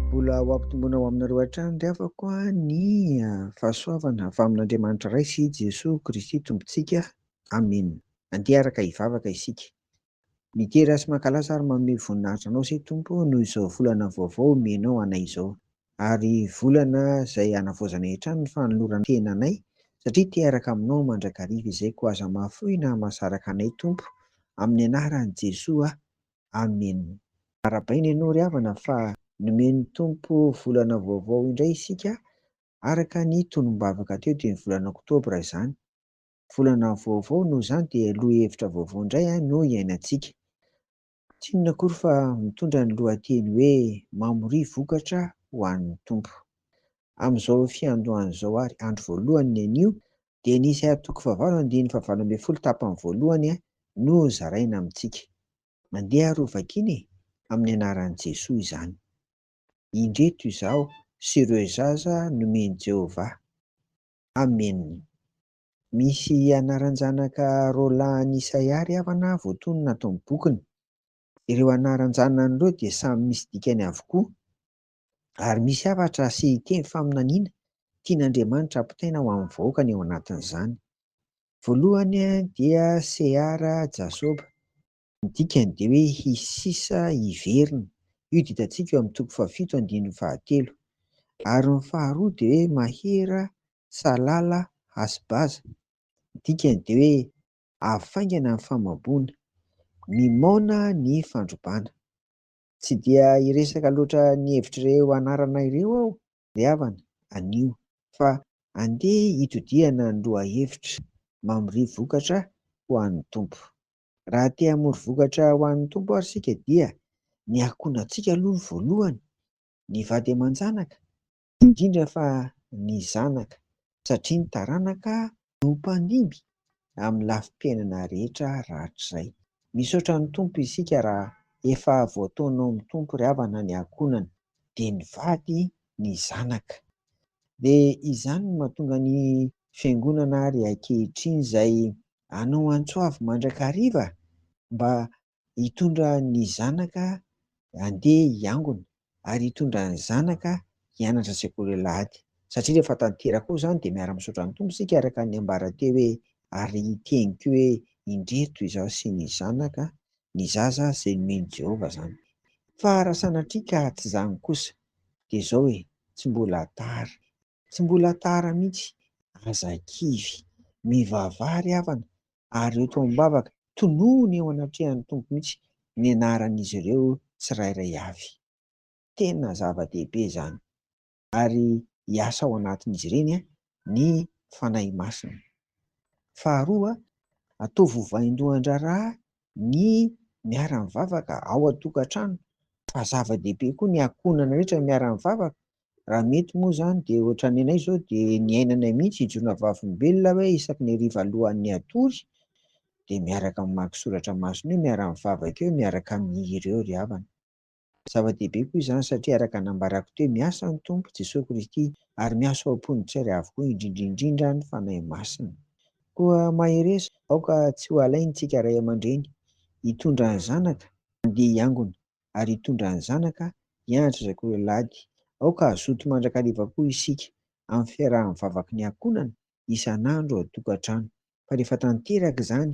Mbola ho ampitomboina ho aminareo hatrany ry havako ny fahasoavana avy amin'Andriamanitra Ray sy Jesoa Kristy Tompontsika. Amena. Andeha hiaraka hivavaka isika. Midera sy mankalaza ary manome voninahitra Anao Isay Tompo noho izao volana vaovao omenao anay izao. Ary volana zay hanavaozanay hatrany ny fanolorantenanay satria te hiaraka aminao mandrakariva izay koa aza mahafoy na mahasaraka anay Tompo amin'ny anaran'i Jesoa Amen. Arabaina ianao ry havana fa nomen'ny Tompo volana vaovao indray isika araka ny tonombavaka teo dia ny volana oktobra izany. Volana vaovao noho izany dia lohahevitra vaovao indray no iainantsika. Tsy inona akory fa mitondra ny lohateny hoe Mamoria Vokatra ho an'ny Tompo. Amin'izao fiandohana izao ary, andro voalohany ny anio, dia ny isa toko fahavalo andininy fahavalo ambin'ny folo tapany voalohany no zaraina amintsika. Mandeha ary hovakiana e! Amin'ny anaran'i Jesoa izany. Indreto izaho sy ireo zaza nomen'i Jehovah. Amena. Misy anaran-janaka Roland an'i Isaia ary Havana voatonona ato amin'ny bokiny. Ireo anaran-janany ireo dia samy misy dikany avokoa, ary misy hafatra sy teny faminaniana tian'Andriamanitra hampitaina ho amin'ny vahoakany ao anatin'izany. Voalohany dia Seara, Jasoba. Ny dikany dia hoe hisy sisa hiverina. Io dia hitantsika eo amin'ny toko fahafito andininy fahatelo. Ary ny faharoa dia hoe mahera, salala, hasibaza. Ny dikany dia hoe avy faingana ny famamboana. Mimaona ny fandrobana. Tsy dia hiresaka loatra ny hevitr'ireo anarana ireo aho ry havana anio fa andeha hitodihana ny lohahevitra, mamoria vokatra ho an'ny Tompo. Raha te hamory vokatra ho an'ny Tompo ary isika dia ny ankohonantsika aloha no voalohany, ny vady aman-janaka, indrindra fa ny zanaka, satria ny taranaka no mpandimby amin'ny lafim-piainana rehetra rahatrizay. Misaotra ny Tompo isika raha efa voataona ao amin'ny Tompo ry havana ny ankohonana, dia ny vady, ny zanaka. Dia izany no mahatonga ny Fiangonana ary ankehitriny izay anao antso avy mandrakariva mba hitondra ny zanaka handeha hiangona ary hitondra ny zanaka hianatra sekoly alahady satria rehefa tanteraka ao izany dia miara misaotra ny Tompo isika araka ny ambara teo hoe ary hiteny koa hoe indreto izaho sy ny zanaka ny zaza izay nomen'i Jehovah izany fa raha sanatria ka tsy izany kosa dia izao e tsy mbola tara Tsy mbola tara mihitsy, aza kivy. Mivavaha ry havana, ary eo toa am-bavaka, tonony eo anatrehan'ny Tompo mihitsy ny anaran'izy ireo tsirairay avy. Tena zava-dehibe izany. Ary hiasa ao anatin'izy ireny ny Fanahy Masina. Faharoa, ataovy ho vaindohan-draharaha ny miara-mivavaka ao an-tokantrano, fa zava-dehibe koa ny ankohonana rehetra miara-mivavaka, Raha mety moa izany dia ohatran'ny anay izao dia ny ainanay mihitsy hijoroana vavolombelona hoe isaky ny hariva alohan'ny hatory dia miaraka mamaky soratra masina eo, miara-mivavaka eo, miaraka mihira eo ry havana. Zava-dehibe koa izany satria araka ny nambarako teo, miasa ny Tompo, Jesoa Kristy, ary miasa ao am-pon'ny tsairy avokoa indrindra indrindra ny Fanahy Masina. Koa mahereza, aoka tsy ho alaintsika ray aman-dreny hitondra ny zanaka handeha hiangona, ary hitondra ny zanaka hianatra izay koa ialahy ady. Aoka hazoto mandrakariva koa isika amin'ny fiarahan'ny vavaky ny ankohonana isan'andro ao an-tokantrano. Fa rehefa tanteraka izany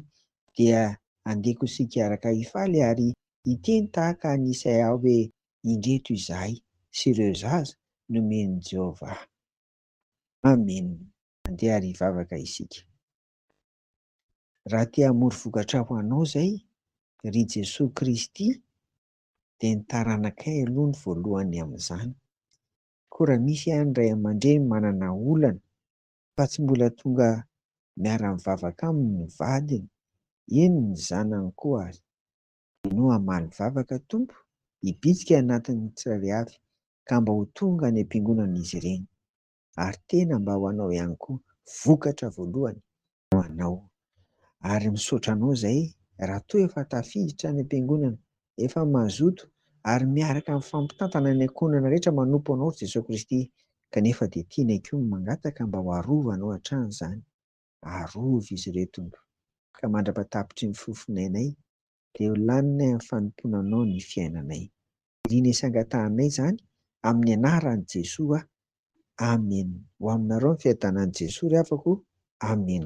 dia andeha koa isika hiaraka hifaly ary hiteny tahaka an'i Isaia hoe, Indreto izahay sy ireo zaza nomen'i Jehovah. Amena. Andeha ary hivavaka isika. Raha te hamory vokatra ho anao izay, ry Jesoa Kristy dia ny taranakay aloha no voalohany amin'izany. Koa raha misy any ray aman-dreny manana olana fa tsy mbola tonga miara-mivavaka aminy ny vadiny, eny ny zanany koa ary, dia no hamaly vavaka Tompo hibitsika anatin'ny tsirairay avy ka mba ho tonga any am-piangonana izy ireny. ary tena mba ho anao ihany koa vokatra voalohany ho anao ary misaotra anao zay raha toa efa tafiditra any am-piangonana efa mazoto ary miaraka mifampitantana ny ankohonana rehetra manompo anao Jesoa Kristy kanefa dia tianay koa mangataka mba ho arovanao hatrany zany arovy izy ireo Tompo ka mandrapa-tapitry ny fofon'ainay dia ho laninay amin'ny fanompoana anao ny fiainanay. Irina sy angatahanay izany amin'ny anaran'i Jesoa. Amen. Ho aminareo ny fiadanan'i Jesoa ry havako. Amen.